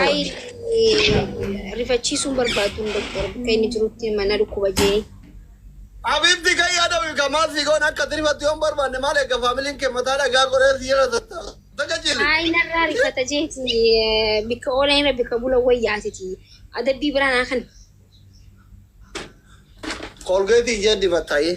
Ayi rifachiisuun barbaadu doktor bakka inni jirutti mana dhukkuba jee. Abibti kan yaada wika maal si goon akka tirifatti yoon barbaanne maal eegga faamiliin kee mataa dhagaa qoree si jala tattaafata jechili. Ayi narraa rifata jeeti bikka oola irra bikka bula wayyaatiti adabbii biraa naa kan. Kolgeetii ishee dibattaayee.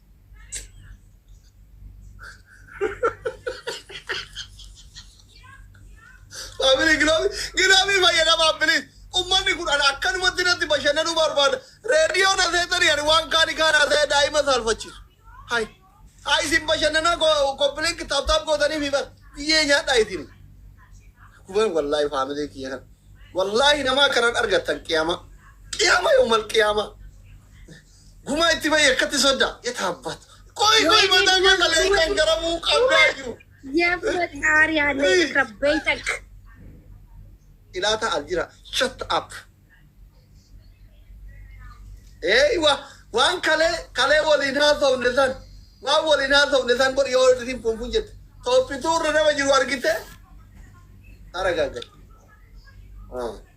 Faamilii giloobii giloobii fayyadamaa bilis. Ummanni kun ana akkanumatti natti bashannanuu barbaada. Reediyoo na seetanii ani waan kaani kaan haasa'ee daa'ima saalfachiisu. Hayi. Hayi isin bashannanaa koppilinki taaptaap gootanii fi bar biyyee nyaadhaa isin. Kuban wallaahi faamilii kiyya kan. Wallaahi namaa kanan argattan qiyaama. Qiyaama yoomal qiyaama. Gumaa itti bahi akkatti sodda. Yetaabbatu. Qoy qoy mataa kee kalee kan garabuu qabdaa jiru. Yaffaxaari haala irra beeytak. Ilaata aljira shut up. Ee wa waan kalee kalee waliin haasofne san waan waliin haasofne san godhi yoo isin funfun jette. Toophituu irra nama jiru argite. Aragaagate. Ah.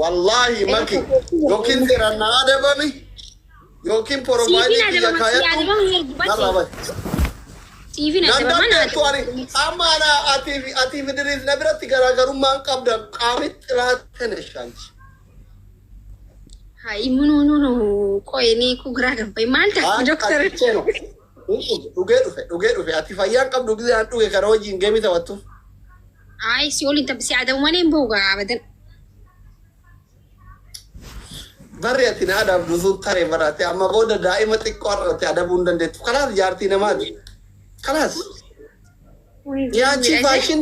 Wallaahi maki yookiin seeraan na adabami yookiin porofaayilii kiyya kaayadhu narraa bari. Nan dandeettu ani amma ana atiif atiif diriif na biratti garaagarummaan qabda qaamitti raate na shaanti. Hayi munu nunu qoye ni ku gra gabbe mal ta ku doktor. Dhugee dhufe dhugee dhufe ati fayyaan qabdu gisee an dhuge kana wajjin geemii taphattuuf. Ayi si olin tabbisi adamu malee hin bahu gaa abadan. Barri ati na adabdu sun tare barate amma booda daa'ima xiqqoo har'ate adabuu hin dandeettu. Kalaas jaartii namaati. Kalaas. Yaachii faashin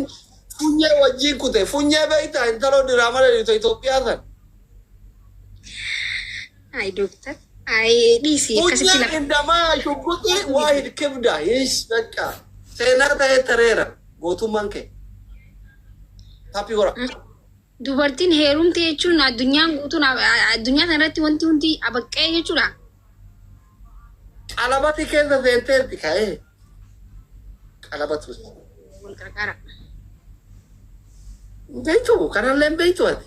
funyee wajjii kute funyee beektaa intaloo diraamaa dheerita Itoophiyaa san. Ay doctor. Ay dhiisi akkasitti Hujii lafa. indamaa shugguxii waa hin kibda hiis dhaqqa. Seenaa ta'ee tareera gootummaan kee. Happy hora. Dubartiin heerumte jechuun addunyaan guutuun addunyaa kanarratti wanti hundi abaqqee jechuudha. Qalabati keessa seenteerti ka'ee. Qalabatu. Wal qarqara. Beektu kanallee beektu ati.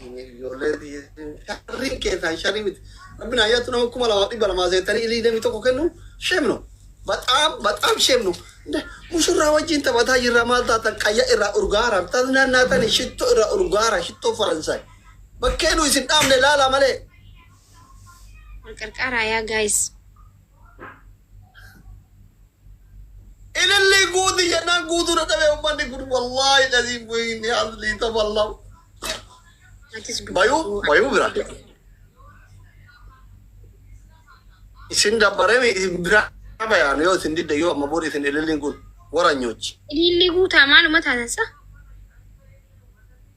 Ijoollee biyya sharriin keessaan sharrii miti. Rabbi naa yaatu nama kuma lamaa dhibba lamaa seettanii ilii damii tokko kennu sheem no. Baxaam baxaam sheem no. Mushurraa wajjin taphataa jirra maal taatan qayya irraa urgaara tas naannaatani shittoo irraa urgaara shittoo faransaay. Bakkee nu isin dhaabne laalaa malee. Wal qarqaaraa yaa guys. Ilillii guuti jennaan guutuu dadhabee ummanni kun wallaahi laziin bu'iinni haslii taballahu. Bayuu bayuu bira. Isin dabbaree mi isin bira bayaan yoo isin didde yoo amma booda isin ililliin kun waranyoochi. Ilillii guutaa maaluma taatan sa?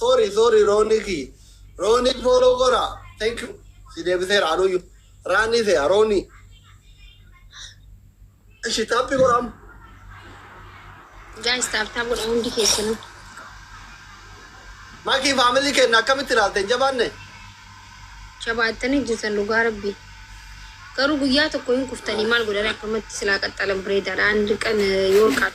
Sorry sorry Roonii kiyya. Roonii follow godhaa. Thank you. Si deebiseera anuuyyu. Raanii se'a Roonii. Ishi taappi godha amma. Guys taap taap godha hundi keessanuu. Makii faamilii kenna akkamitti ilaalte hin jabaanne? Jabaattanii jirtan dhugaa rabbi. Garuu guyyaa tokko hin kuftanii maal godhanii akkamatti silaa qaxxalan bireedaadha. Aan dirqan yoo qaxxalan.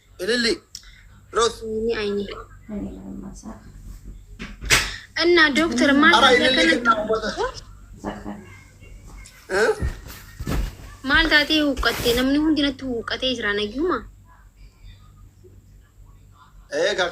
Ililli. Root. Ni ayni. Inna doktor maal Ara taatee ililli kennaa akkanatti ummata. Eh? maal taatee huqqatte namni hundi natti huqqatee jira nayyuma. Eh, ka- ka-